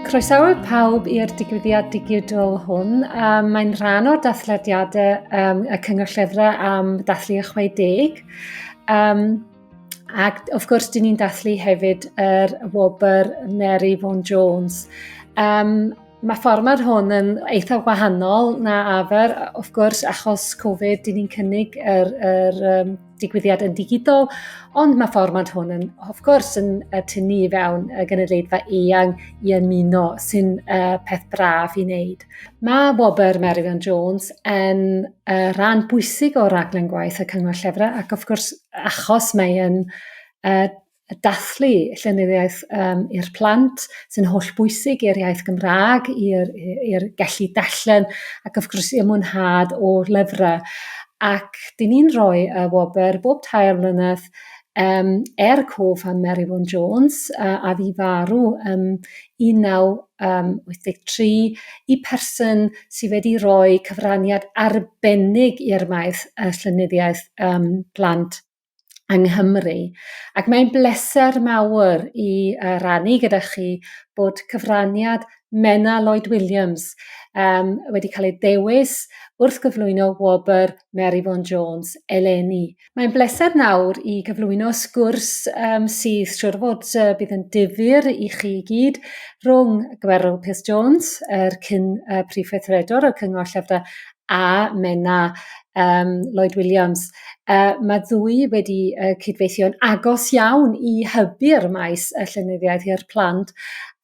Croesawu pawb i'r digwyddiad digidol hwn. Um, mae'n rhan o'r dathlediadau um, y Cyngor Llyfrau am dathlu y 60. Um, Ac wrth gwrs, dyn ni'n dathlu hefyd yr er wobr Mary Vaughan Jones. Um, mae fformat hwn yn eitha wahanol na afer, wrth gwrs, achos Covid, dyn ni'n cynnig yr, er, er, um, digwyddiad yn digidol, ond mae fformat hwn yn, wrth gwrs, yn uh, tynnu i fewn y gynulleidfa eang i ymuno, sy'n uh, peth braf i wneud. Mae wobr Mary Vaughan Jones yn uh, rhan bwysig o raglen gwaith y Cyngor Llyfrau ac wrth gwrs achos mae yn uh, dathlu llenyddiaeth um, i'r plant sy'n holl bwysig i'r iaith Gymraeg, i'r gallu dallen ac wrth gwrs i'r mwynhad o lyfrau. Ac dyn ni'n rhoi y wobr bob tair mlynedd um, er cof am Mary Vaughan Jones, a, a fi farw um, 1983, i person sydd wedi rhoi cyfraniad arbennig i'r maes y llynyddiaeth um, plant yng Nghymru. Ac mae'n bleser mawr i uh, rannu gyda chi bod cyfraniad Mena Lloyd Williams um, wedi cael ei dewis wrth gyflwyno wobr Mary Vaughan Jones eleni. Mae'n bleser nawr i gyflwyno sgwrs um, sydd siwr fod uh, bydd yn difyr i chi i gyd rhwng Gwerwl Peth Jones, yr cyn uh, Prif Weithredwr o'r Cyngor Llyfrau, a Menna um, Lloyd Williams. Uh, mae ddwy wedi uh, cydweithio'n agos iawn i hybu'r maes y llenyddiaeth i'r plant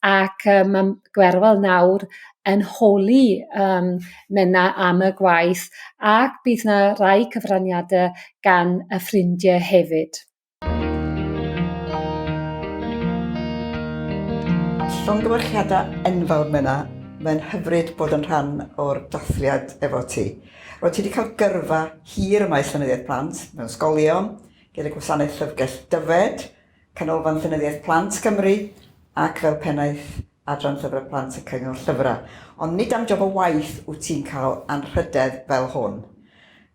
ac uh, mae Gwerwl nawr yn holi yym Menna am y gwaith ac bydd 'na rai cyfraniade gan y ffrindie hefyd. Llongyfarchiadau enfawr Menna, mae'n hyfryd bod yn rhan o'r dathliad efo ti. Roedd ti wedi cael gyrfa hir ym maes llenyddiaeth plant, mewn ysgolion, gyda Gwasanaeth Llyfrgell Dyfed, Canolfan Llenyddiaeth Plant Cymru ac fel Pennaeth Adran Llyfrau Plant y Cyngor Llyfrau. Ond nid am job o waith wyt ti'n cael anrhydedd fel hwn.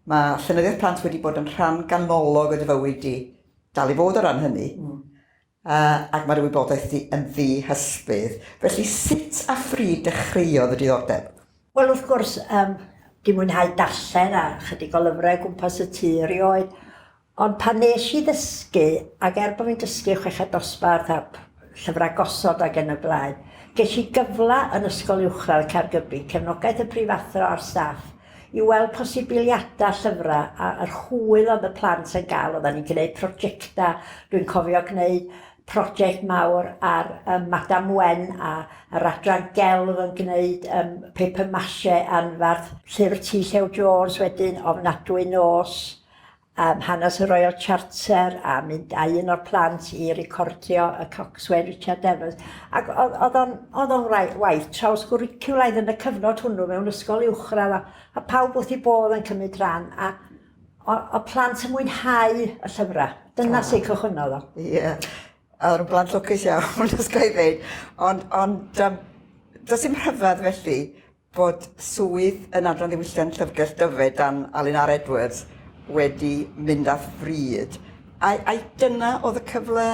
Mae Llenyddiaeth Plant wedi bod yn rhan ganolog o dy fywyd di, dal i fod o ran hynny, mm. uh, ac mae'r wybodaeth di yn ddi hysbydd. Felly sut a phryd dechreuodd y diddordeb? Wel wrth gwrs, um, di mwynhau darllen a chydig o lyfrau gwmpas y tu erioed, Ond pan nes i ddysgu, ac er bo fi'n dysgu chweched dosbarth a llyfrau gosod ac yn y blaen, ges i gyfle yn Ysgol Uwchradd Caergybi, cefnogaeth y prifathro a'r staff, i weld posibiliadau llyfrau a yr hwyl oedd y plant yn gael, oeddan ni'n gneud projectau, dwi'n cofio gneud project mawr ar yym Madam Wen a yr adran gelf yn gneud yym paper mache anfarth, llyfr T Llew Jones wedyn, Ofnadwy Nos, Am hanes y Royal Charter a mynd â un o'r plant i recordio y Coxswain Richard Evans. Ac oedd o'n oedd o'n waith trawsgwricwlaidd yn y cyfnod hwnnw mewn ysgol uwchradd a, a pawb wrth i bodd yn cymryd rhan a o, o plant yn mwynhau y llyfrau. Dyna oh. sy'n cychwynnodd o. Ie. Yeah. Oedd yn blant lwcus iawn, os gael ei ddeud. Ond, ond um, does dim rhyfedd felly bod swydd yn Adran Ddiwylliant Llyfrgell Dyfed dan Alun R Edwards wedi mynd â phryd. Ai, ai dyna oedd y cyfle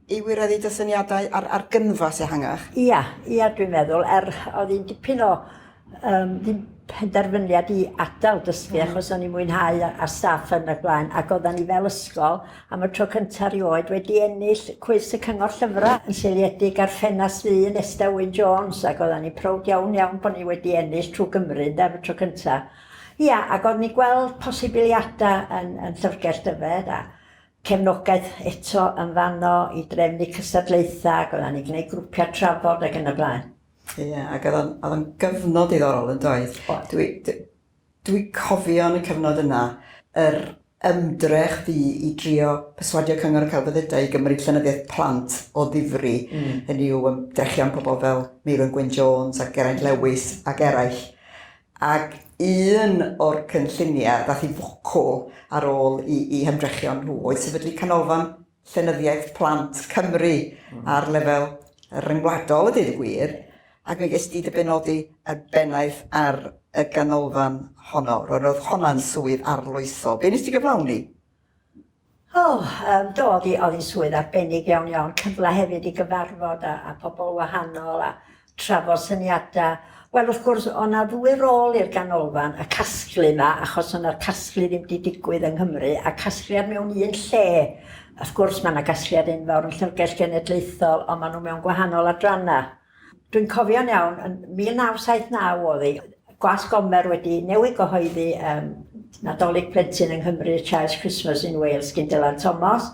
i wireddu dy syniadau ar, ar gynfas ehangach? Ia, ia dwi'n meddwl, er oedd hi'n dipyn o um, ddim penderfyniad i adael dysgu mm. achos o'n i'n mwynhau a, a staff yn y blaen ac oedden ni fel ysgol am y tro cyntaf erioed, wedi ennill Cwis y Cyngor Llyfrau yn seiliedig ar ffenast ddu Nesta Wyn Jones ac oeddan ni'n prowd iawn iawn bod ni wedi ennill trwy Gymru ynde am y tro cyntaf. Ia ac oedden ni'n gweld posibiliadau yn, yn Llyfrgell Dyfed a cefnogaeth eto yn fanno i drefnu cystadlaethau ac oeddan ni'n gwneud grwpiau trafod ac yn y blaen. Ia ac oedd o'n, oedd o'n gyfnod diddorol yn doedd? Oedd. Dwi, dwi, Dwi cofio yn y cyfnod yna yr ymdrech fu i drio perswadio Cyngor y Celfyddydau i gymryd llenyddiaeth plant o ddifri, hynny yw ymdrechion pobl fel Meirwen Gwyn Jones a Geraint Lewis ac eraill, ac un o'r cynlluniau ddaeth i fwcwl ar ôl i i hymdrechion nhw oedd sefydlu canolfan Llenyddiaeth Plant Cymru ar lefel ryngwladol a deud y gwir, ac mi ges di dy benodi y bennaeth ar y ganolfan honno. Roedd roedd honna'n swydd arloesol. Be nes ti gyflawni? O, um, do, oedd hi'n swydd arbennig iawn iawn, cyfle hefyd i gyfarfod a, a pobl wahanol a trafod syniadau. Wel wrth gwrs o' 'na ddwy rôl i'r ganolfan, y casglu 'ma achos o' 'na'r casglu ddim 'di digwydd yng Nghymru a casgliad mewn un lle. Wrth gwrs ma' 'na gasgliad enfawr yn Llyfrgell Genedlaethol ond ma' nhw mewn gwahanol adrannau. Dwi'n cofio'n iawn yn 1979 o'dd 'i Gwasg Gomer wedi newid gyhoeddi ym Nadolig Plentyn yng Nghymru y Child's Christmas in Wales gin Dylan Thomas,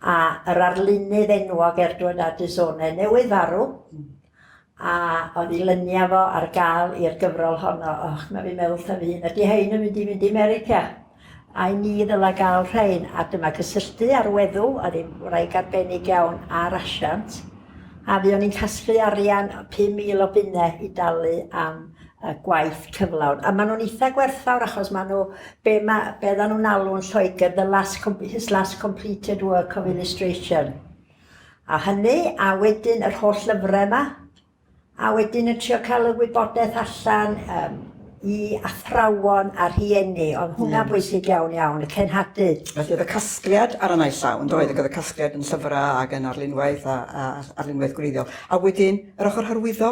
a yr arlunydd enwog Erdward a Dizone newydd farw, a oedd i lynia fo ar gael i'r gyfrol honno. Och, mae fi'n meddwl wrtha fy hun, ydy hein yn mynd i fynd i America? Ai ni ddylai gael rhain, a dyma gysylltu â'r weddw, oedd hi'n wraig arbennig iawn ar asiant, a fuon ni'n casglu arian 5,000 o bunnau i dalu am y gwaith cyflawn. A maen nhw'n eitha gwerthfawr achos maen nhw, be, ma, be oedden nhw'n alw'n Lloegr, the last, his last completed work of illustration. A hynny, a wedyn yr holl lyfrau yma, a wedyn yn trio cael y wybodaeth allan um, i athrawon a rhieni, ond hwnna'n bwysig iawn iawn, y cenhadu. Felly oedd y casgliad ar y naill llawn, doedd, ac oedd y casgliad yn llyfrau ac yn arlunwaith a, a arlunwaith gwreiddiol. A wedyn, yr ochr hyrwyddo?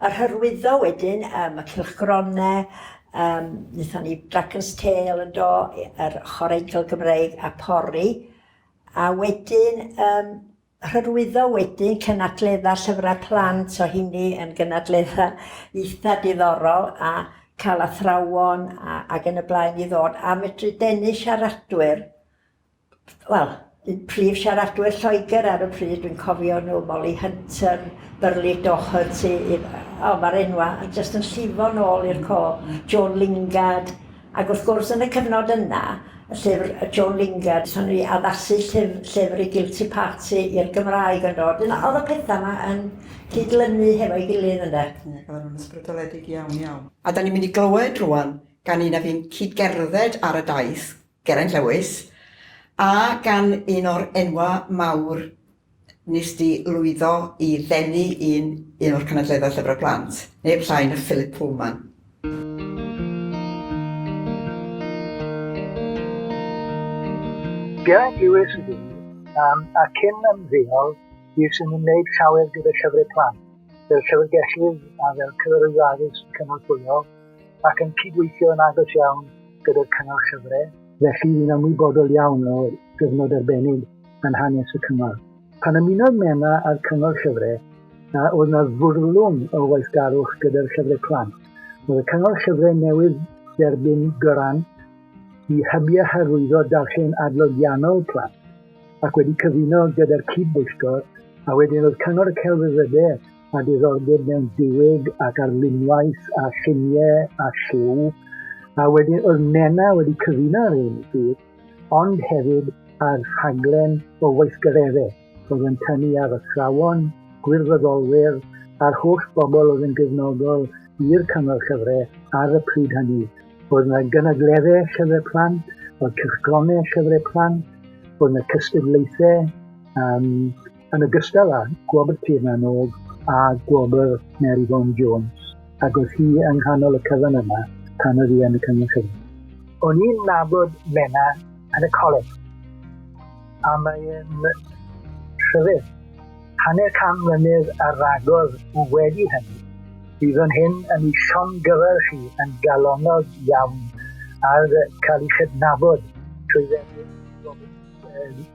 Yr hyrwyddo wedyn, um, y cilchgronau, um, wnaethon ni Dragon's Tail yn do, yr ochr eidl Gymreig a pori, a wedyn um, Hyrwyddo wedyn cynadledda llyfrau plant o hynny yn gynadledda eitha diddorol a cael athrawon a, ac yn y blaen i ddod a medru denu siaradwyr wel un prif siaradwyr Lloegr ar y pryd dwi'n cofio nhw Molly Hunter, Burley Doherty, o mae'r enwau yn jyst yn llifo'n ôl i'r co, Joan Lingard, Ac wrth gwrs, yn y cyfnod yna, y llyfr Joan Lingard, so ni addasu llyf- llyfr i Guilty Party i'r Gymraeg yndo, wedyn o- o'dd y petha 'ma yn cyd-lynu hefo'i gilydd ynde? Ie, ac oedden nhw'n ysbrydoledig iawn, iawn. A 'dan ni'n mynd i glywed rŵan gan un a fu'n cyd-gerdded ar y daith, Geraint Lewis, a gan un o'r enwa' mawr Wnest ti lwyddo i ddenu un un o'r cynadleddau Llyfrau Plant, neb llai na Philip Pullman. Be glywes i ddim am a cyn ymddeol bues yn ymwneud llawer gyda Llyfrau Plant, fel llyfrgellydd a fel cyfarwyddwr addysg cynorthwyol, ac yn cydweithio yn agos iawn gyda'r Cyngor Llyfrau, felly fi'n ymwybodol iawn o gyfnod arbennig yn hanes y Cyngor. Pan ymunodd Menna â'r Cyngor Llyfre, a oedd na fwrlwm o waithgarwch gyda'r llyfre plant, roedd y Cyngor Llyfre newydd dderbyn grant i hybu a hyrwyddo darllen adloniannol plant, ac wedi cyfuno gyda'r cyd-bwyllgor, a wedyn roedd Cyngor y Celfyddyde a diddordeb mewn diwyg ac arlunwaith a lluniau a lliw, a wedyn oedd Menna wedi cyfuno ar hyn i gyd. ond hefyd ar rhaglen o weithgareddau oedd yn tynnu ar athrawon, gwirfoddolwyr a'r holl bobl oedd yn gefnogol i'r Cyngor Llyfrau ar y pryd hynny. Oedd yna gynadleddau llyfrau plant, oedd cylchgronau llyfrau plant, oedd yna cystadlaethau, um, yn ogystal â Gwobr Tiernan Og a Gwobr Mary Vaughan Jones, ac oedd hi yng nghanol y cyfan yma pan oedd hi yn y Cyngor Cyfan. O'n i'n nabod Menna yn y coleg, a mae'n rhyfedd. Hanner can mlynedd ar ragor wedi hynny, bydd o'n hyn yn ei llongyfarch chi yn galonnog iawn ar cael ei chydnabod trwy ddefnydd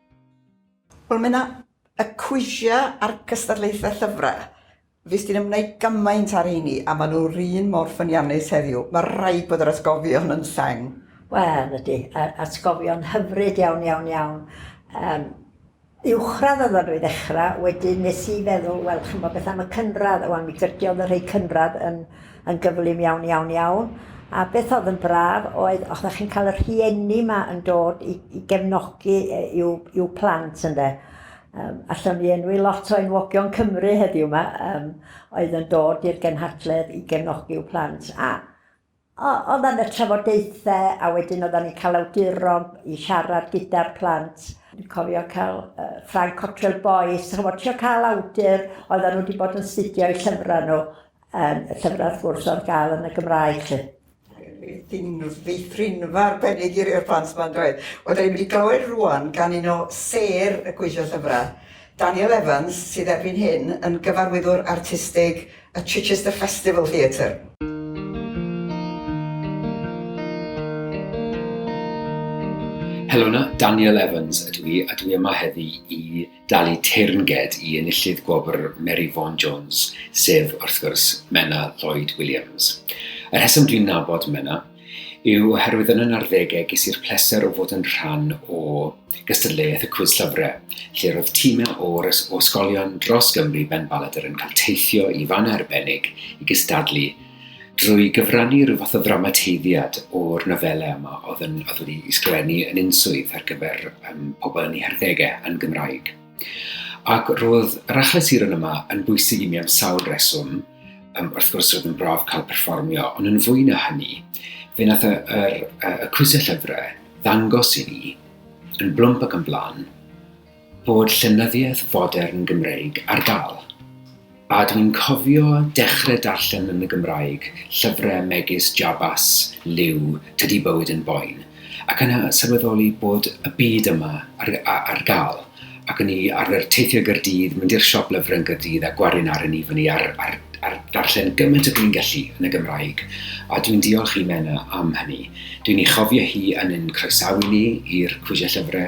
Wel mae 'na y cwisiau a'r cystadlaethau llyfrau. Fues ti'n ymwneud gymaint â'r rheini a maen nhw'r un mor ffyniannus heddiw. Mae rhaid bod yr atgofion yn seng. Wel, ydy. Atgofion hyfryd iawn, iawn, iawn. Yym, uwchradd oeddan nhw i ddechrau, wedyn nes i feddwl, wel, chimod, beth am y cynradd? Wan, mi gydiodd y rhei cynradd yn yn gyflym iawn iawn iawn a beth oedd yn braf oedd os na chi'n cael y rhieni yma yn dod i, i gefnogi i'w, i'w plant ynde. Um, allwn ni enwi lot o enwogion Cymru heddiw yma um, oedd yn dod i'r genhadledd i gefnogi i'w plant a oedd yn y trafodaethau a wedyn oedden ni'n cael awduron i siarad gyda'r plant. Dwi'n cofio cael uh, Frank Cottrell Boyce, chymod, trio cael awdur oedden nhw wedi bod yn studio i llyfrau nhw Yym, y llyfrau wrth gwrs ar gael yn y Gymraeg 'lly. Dim ddiffrinfa arbennig i rei o'r plant yma yndoedd? Wel, dan ni'n mynd i glywed rŵan gan un o sêr y Gweithio Llyfrau, Daniel Evans, sydd erbyn hyn yn gyfarwyddwr artistig y Chichester Festival Theatre. Helo 'na, Daniel Evans ydw i a dwi yma heddi i dalu teyrnged i enillydd gwobr Mary Vaughan Jones, sef, wrth gwrs, Menna Lloyd Williams. Y rheswm dwi'n nabod Menna yw oherwydd yn y narddegau ges i'r pleser o fod yn rhan o gystadleuaeth y cwys llyfrau, lle roedd tîmau o'r ysgolion dros Gymru ben Baladr yn cael teithio i fan arbennig i gystadlu drwy gyfrannu rhyw fath o ddramateiddiad o'r nofelau yma oedd yn oedd wedi ysgrifennu yn unswydd ar gyfer um, pobl yn ei harddegau yn Gymraeg. Ac roedd yr achau siron yma yn bwysig i mi am sawl reswm, um, wrth gwrs roedd yn braf cael perfformio, ond yn fwy na hynny, fe nath y, y, y, y crwysau llyfrau ddangos i ni yn blwmp ac yn flan bod llenyddiaeth fodern Gymreig ar gael, a dwi'n cofio dechre darllen yn y Gymraeg llyfre megis Jabas, Liw, Tydi Bywyd yn Boen, ac yna sylweddoli bod y byd yma ar ar gael, ac o'n i arfer teithio i Gaerdydd, mynd i'r siop lyfre yn Gaerdydd a gwarin aren i fyny ar ar ar ddarllen gymaint ag o'n gallu yn y Gymraeg, a dwi'n diolch i Menna am hynny. Dwi'n ei chofio hi yn ein croesawu ni i'r Cwisiau Llyfre,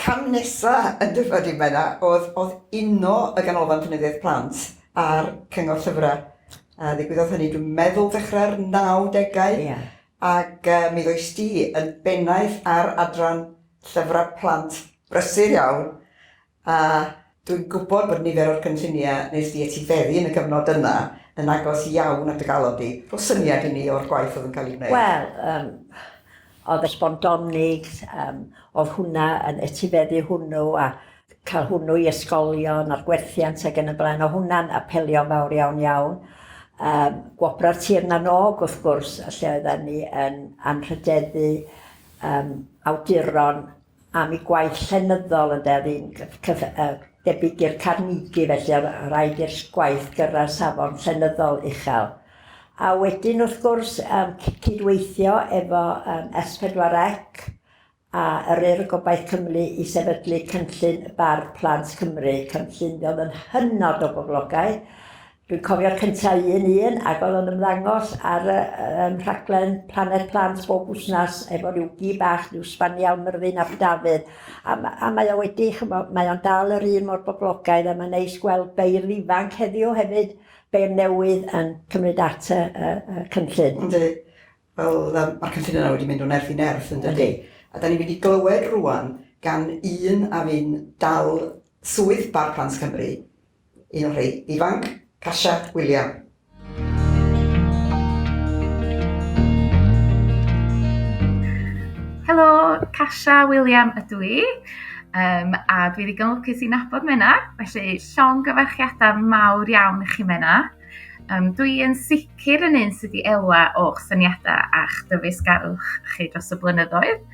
Cam nesa yn Dyfed i Menna oedd oedd uno y Ganolfan Llenyddiaeth Plant a'r Cyngor Llyfrau. A ddigwyddodd hynny dwi'n meddwl ddechrau'r nawdegau. Ia. Ac yy mi ddoes di yn bennaeth ar adran llyfrau plant brysur iawn a Dwi'n gwybod bod nifer o'r cynlluniau wnes di etifeddu yn y cyfnod yna yn agos iawn at dy galon di. Rho syniad i ni o'r gwaith oedd yn cael ei wneud. Wel, yym, oedd y sbondonig, yym, oedd hwnna yn etifeddu hwnnw a cael hwnnw i ysgolion a'r gwerthiant ac yn y blaen, oedd hwnna'n apelio'n fawr iawn iawn. Yym, Gwobrau'r Tir na n-Og, wrth gwrs, lle oedden ni yn anrhydeddu yym awduron am ei gwaith llenyddol ynde, oedd hi'n debyg i'r Carnegie felly oedd rhaid i'r gwaith gyrraedd safon llenyddol uchel. A wedyn wrth gwrs yym cydweithio efo yym S4C a yr Urdd Gobaith Cymru i sefydlu cynllun Bardd Plant Cymru, cynllun mi oedd yn hynod o boblogaidd, Dwi'n cofio'r cynta un un ac oedd o'n ymddangos ar y um, rhaglen Planet Plant bob wsnas efo rhyw gi bach, rhyw sbaniel myrddin ab Dafydd. A, a mae o wedi, chymo, mae o'n dal yr un mor boblogaidd a mae'n neis gweld beirdd ifanc heddiw hefyd, beirdd newydd yn cymryd at y, y, y cynllun. Yndi. Wel, um, mae'r cynllun yna wedi mynd o nerth i nerth yn dydy. A da ni'n mynd i glywed rwan gan un a fi'n dal swydd Bar Plant Cymru Un o'r rhai ifanc, Kasia William. Helo, Kasia William ydw i. Um, a dwi ddigon lwcus i nabod Menna, felly llong gyfarchiadau mawr iawn i chi Menna. Um, dwi yn sicr yn un sydd wedi elwa o'ch syniadau a'ch dyfeisgarwch chi dros y blynyddoedd.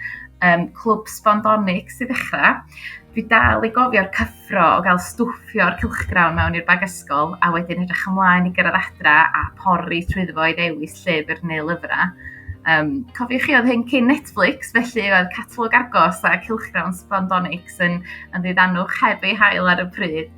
Um, clwb Sbondonic sydd ddechrau. Dwi dal i gofio'r cyffro o gael stwffio'r cylchgrawn mewn i'r bag ysgol a wedyn edrych ymlaen i gyrraedd adra a pori trwyddo fo i ddewis llyfr neu lyfrau. Um, cofiwch chi oedd hyn cyn Netflix, felly oedd catalog agos a cylchgrawn Spondonics yn, yn ddiddanwch heb ei hael ar y pryd.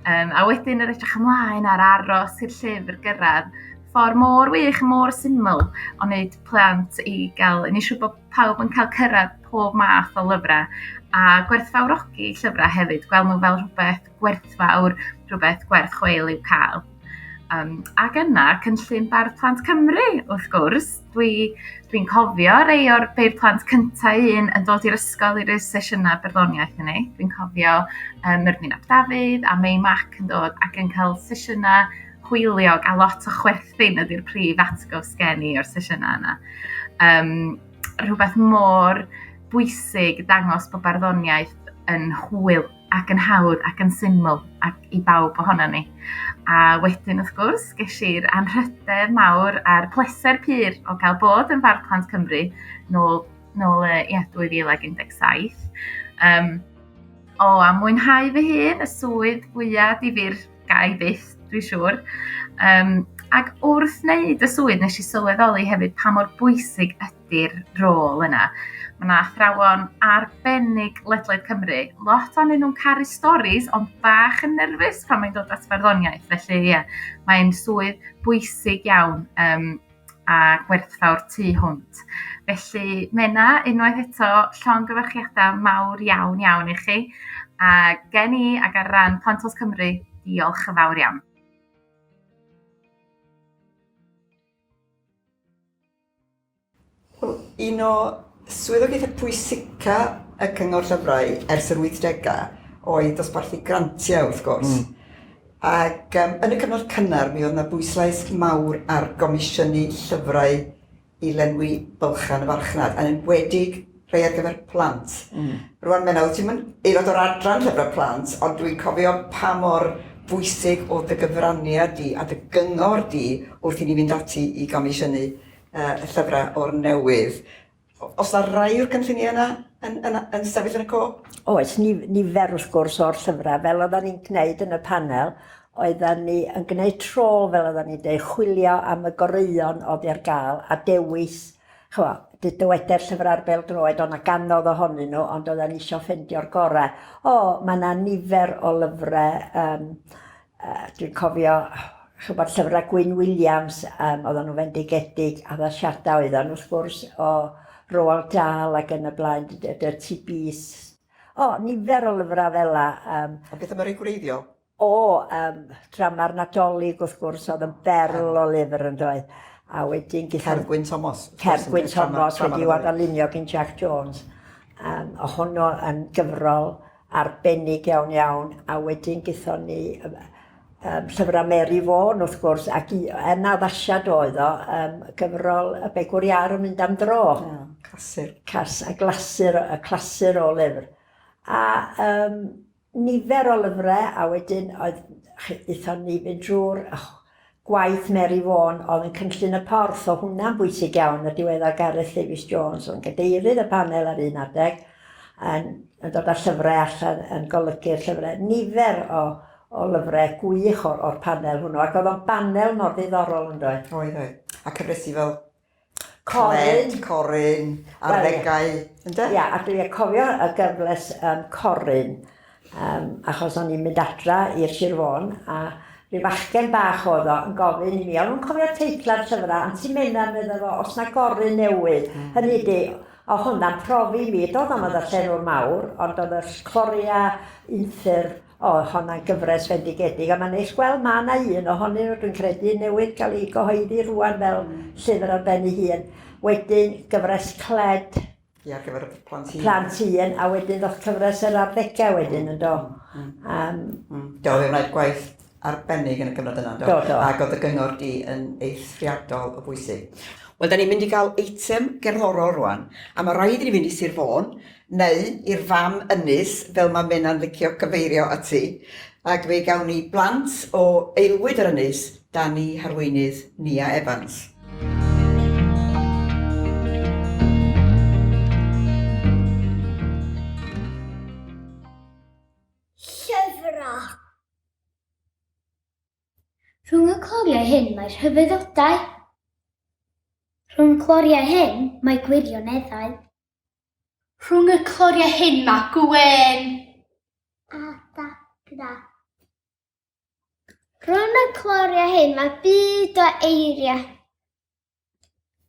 Um, a wedyn yr edrych ymlaen ar aros i'r llyfr gyrraedd. Ffordd mor wych, mor syml o wneud plant i gael, yn eisiau bod pawb yn cael cyrraedd pob math o lyfrau a gwerthfawrogi llyfrau hefyd, gweld nhw fel rhywbeth gwerthfawr, rhywbeth gwerth chweil i'w cael. Um, ac yna, cynllun Bardd Plant Cymru, wrth gwrs, Dwi dwi'n cofio rei o'r rhei o'r plant cynta' un yn dod i'r ysgol i ryw sesiyna barddoniaeth hynny. Dwi'n cofio yym Myrddin ap Dafydd a Mei Mac yn dod ac yn cael sesiyna hwyliog a lot o chwerthin ydi'r prif atgof sgen i o'r sesiyna yna. Yym rhywbeth mor bwysig dangos bod barddoniaeth yn hwyl. ac yn hawdd ac yn syml ac i bawb ohono ni. A wedyn, wrth gwrs, ges i'r anrhydedd mawr a'r pleser pur o gael bod yn Fardd Plant Cymru nôl, nôl uh, yeah, 2017. Um, o, a mwynhau fy hun y swydd fwyaf difyr gai byth, dwi'n siŵr. Um, ac wrth wneud y swydd, nes i sylweddoli hefyd pa mor bwysig ydy i'r rôl yna. Mae yna athrawon arbennig ledled Cymru. Lot o'n nhw'n caru storis, ond bach yn nerfus pan mae'n dod at farddoniaeth. Felly, ie, yeah, mae'n swydd bwysig iawn um, a gwerthfawr tu hwnt. Felly, Mena, unwaith eto, llon gyfarchiadau mawr iawn iawn i chi. A gen i ac ar ran Pantos Cymru, diolch yn fawr iawn. Wel, un o swyddogaethau pwysica y Cyngor Llyfrau ers yr 80au oedd dosbarthu grantiau, wrth gwrs. Mm. Ac um, yn y cyfnod cynnar, mi oedd yna bwyslais mawr ar gomisiynu llyfrau i lenwi bylchan y farchnad, yn enwedig rhai ar gyfer plant. Mm. Rwan Menna, wyt ti'n aelod o'r adran llyfrau plant, ond dwi'n cofio pa mor bwysig oedd dy gyfraniad di a dy gyngor di wrth i ni fynd ati i gomisiynu uh, y llyfrau o'r newydd. Os na rai o'r cynlluniau yna yn, yn, yn, yn sefyll yn y co? Oes, ni, nifer wrth gwrs o'r llyfrau, fel oedden ni'n gwneud yn y panel, oedden ni yn gwneud tro fel oedden ni'n dweud, chwilio am y goreuon oedd ar gael a dewis Ch'mo', dwi dywede'r llyfrau'r bêl-droed, o' 'na gannoedd ohonyn nhw, ond oeddan ni isio ffeindio'r gore. O, ma' 'na nifer o lyfrau, yym, yy, dwi'n cofio, ch'mod, llyfrau Gwyn Williams, yym, oeddan nhw'n fendigedig, addasiadau oeddan nhw, wrth gwrs, o Roald Dahl ac yn y blaen, Dirty Beasts. O, nifer o lyfrau fela, yym. A beth am y rhei gwreiddiol? O, um, drama'r Nadolig, wrth gwrs, oedd yn berl o lyfr yn doedd. A wedyn... Cergwyn Thomas. Cergwyn Thomas, wedi i'w adalunio gyn Jack Jones. Um, o honno yn gyfrol arbennig iawn iawn, a wedyn gython ni um, um, llyfrau Mary Vaughan, wrth gwrs, ac i, yn addasiad oedd o, um, gyfrol y begwr iar yn mynd am dro. Yeah, clasur. Cas, a glasur, y clasur o lyfr. A um, nifer o lyfrau a wedyn oedd, aethon ni fynd drwy'r gwaith Mary Vaughan oedd yn cynllun y porth, oedd hwnna'n bwysig iawn, y diweddar Gareth Davies Jones oedd yn gadeirydd y panel ar un adeg yn dod â llyfrau allan yn golygu'r llyfrau, nifer o o lyfrau gwych o'r o'r panel hwnnw ac oedd o'n banel mor ddiddorol yndoedd? Oedd, oedd. A cyfresi fel Coryn. Coryn, arddegau, ynde? Ia, a dwi'n cofio y gyfles um, Coryn, um, achos o'n i'n mynd adra i'r Sir Fôn, a rhyw fachgen bach oedd o yn gofyn i mi, o'n nhw'n cofio teitla'r llyfrau, Anti Mena, meddwl fo, os na Goryn newydd, mm. hynny di, o hwnna'n profi mi, doedd o'n y llenwr mawr, ond oedd y Cloria unffur, O, honna'n gyfres fendigedig, a mae'n neis gweld ma' 'na un ohonyn nhw, dwi'n credu, newydd cael ei gyhoeddi rŵan fel llyfr ar ben ei hun. Wedyn, gyfres Cled. Ie, ar gyfer y plant hŷn. Plant hŷn, a wedyn ddoth cyfres yr arddegau wedyn, yn do? Yym... Do, fe wnaed gwaith arbennig yn y cyfnod yna, yn do? Do, do. Ac oedd dy gyngor di yn eithriadol o bwysig. Wel, 'da ni'n mynd i gael eitem gerddorol rŵan, a ma' raid i ni fynd i Sir Fôn, neu i'r fam ynys fel mae Menna'n licio cyfeirio ati, ac fe gawn ni blant o aelwyd yr ynys, Dani, Harweinydd, Nia Evans. Llyfrau Rhwng y cloriau hyn mae rhyfeddodau. Rhwng cloriau hyn mae gwirioneddau. Rhwng y cloriau hyn mae gwên. A dagra. Rhwng y cloriau hyn mae byd o eiriau.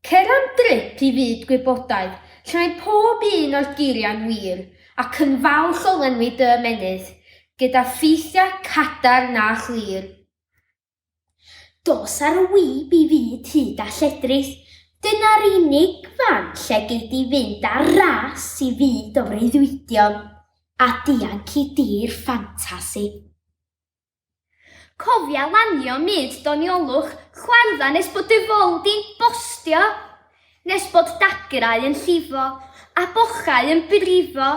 Cer am drip i fyd gwybodaeth, lle mae pob un o'r geiriau'n wir, ac yn falch o lenwi dy ymennydd, gyda ffeithiau cadarn a chlir. Dos ar y wib i fyd hud a lledrith, dyna'r unig fan lle gei di fynd ar ras i fyd o freuddwydion a dianc i dir ffantasi. Cofia lanio myd doniolwch chwardda nes bod dy fol di'n bostio, nes bod dagrau yn llifo a bochau yn brifo,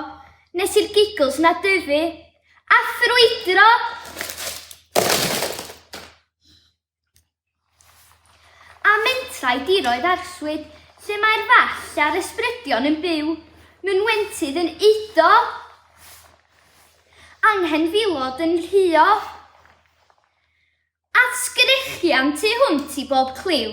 nes i'r giggles 'na dyfu A ffrwydro! A mentrau diroedd arswyd, lle mae'r fall a'r ysbrydion yn byw, mewn wentydd yn eiddo, anghenfilod yn rhuo, a sgrechian tu hwnt i bob cliw.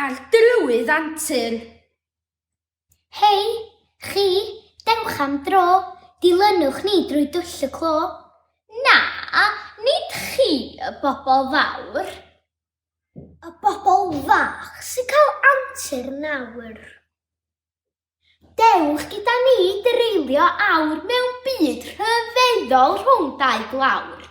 Ar drywydd antur. Hei, chi, dewch am dro, dilynwch ni drwy dwll y clo. Na, nid chi, y bobl fawr. Y bobl fach sy'n cael antur nawr. Dewch gyda ni dreulio awr mewn byd rhyfeddol rhwng dau glawr.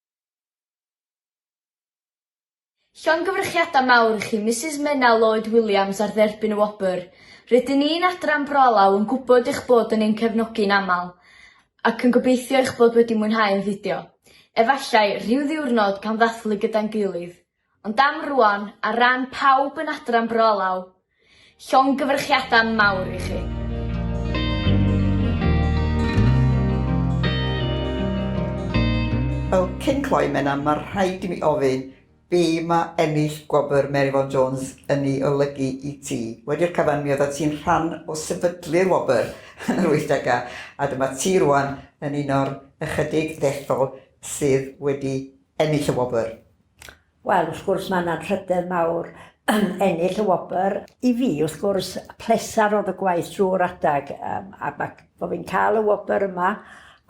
Llongyfrychiadau mawr i chi Misus Menna Lloyd Williams ar dderbyn y wobr. Rydyn ni'n Adran Bro Alaw yn gwybod eich bod yn ein cefnogi yn aml ac yn gobeithio eich bod wedi mwynhau ein fideo. Efallai, rhyw ddiwrnod, pan ddathlu gyda'n gilydd. Ond am rwan, ar ran pawb yn Adran Bro Alaw, llongyfarchiadau mawr i chi. Fel cyn cloi, Menna, mae rhaid i mi ofyn, be mae ennill gwobr Mary Vaughan Jones yn ei olygu i ti? Wedi'r cyfan, mi oeddet ti'n rhan o sefydlu'r wobr yn yr wythdegau, a dyma ti rwan yn un o'r ychydig ddethol sydd wedi ennill y wobr. Wel, wrth gwrs, mae yna anrhydedd mawr yn ennill y wobr. I fi, wrth gwrs, pleser oedd y gwaith drwy'r adeg, um, a mae bod fi'n cael y wobr yma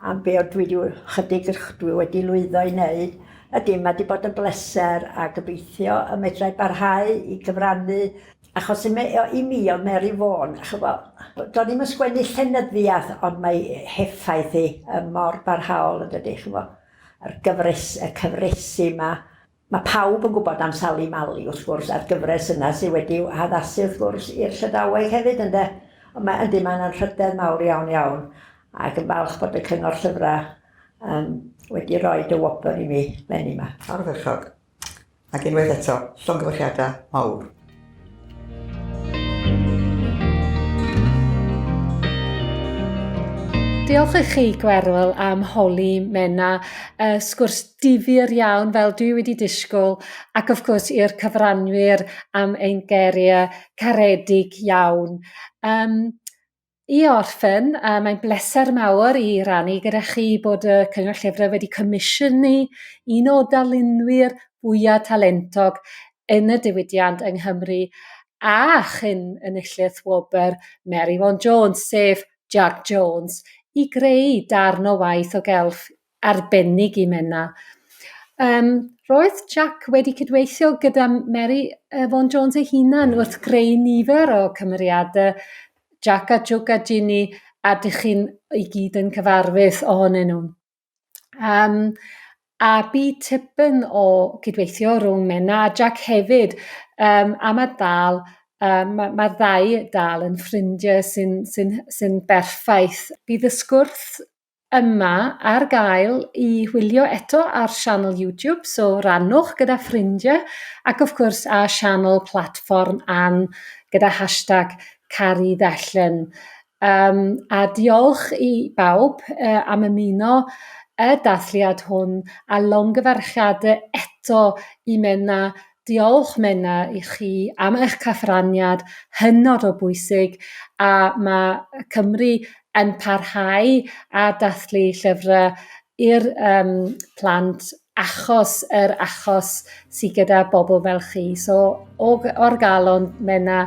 am be oedd dwi wedi, chydig dwi wedi lwyddo i wneud, ydy, mae wedi bod yn bleser a gobeithio y medrau barhau i gyfrannu achos i, me, i mi oedd Mary Vaughan, chyfo, doedd ddim yn sgwennu llenyddiaeth ond mae heffaith hi mor barhaol yn dydy, chyfo. A'r gyfres, y cyfresi 'ma, ma' pawb yn gwybod am Sali Mali, wrth gwrs, a'r gyfres yna sydd wedi'w haddasu, wrth gwrs, i'r Llydaweg hefyd, ynde? Ond mae, yndi, mae'n anrhydedd mawr iawn, iawn, ac yn falch bod y Cyngor Llyfrau yym wedi rhoi y wobr i mi, leni 'ma. Ardderchog. Ac unwaith eto, llongyfarchiadau mawr. Diolch i chi, Gwerwyl, am holi Menna. Uh, sgwrs difyr iawn, fel dwi wedi disgwyl, ac of course i'r cyfranwyr am ein geiriau caredig iawn. Um, I orffen, uh, mae'n bleser mawr i rannu gyda chi bod y Cyngor Llyfrau wedi comisiynu un o darlunwyr fwyaf talentog yn y diwydiant yng Nghymru a chyn enillydd wobr Mary Vaughan Jones, sef Jac Jones, i greu darn o waith o gelf Arbennig i Menna. Yym roedd Jac wedi cydweithio gyda Mary yy Vaughan Jones ei hunan wrth greu nifer o cymeriade Jac a Jwc a Jini a dych chi'n i gyd yn cyfarwydd ohonyn nhw. Yym a bu tipyn o gydweithio rhwng Menna a Jac hefyd yym a ma' dal yym ma' ma'r ddau dal yn ffrindie sy'n sy'n sy'n berffaith. Bydd y sgwrs yma ar gael i wylio eto ar sianel YouTube, so rannwch gyda ffrindiau, ac wrth gwrs a sianel platfform Ann gyda hashtag Caru Ddechrau. Um, a diolch i bawb uh, am ymuno y dathliad hwn a longyfarchiadau eto i Menna Diolch, Menna, i chi am eich cyfraniad hynod o bwysig, a mae Cymru yn parhau â dathlu llyfrau i'r um, plant achos yr achos sydd gyda bobl fel chi. So, o, o'r galon, Menna,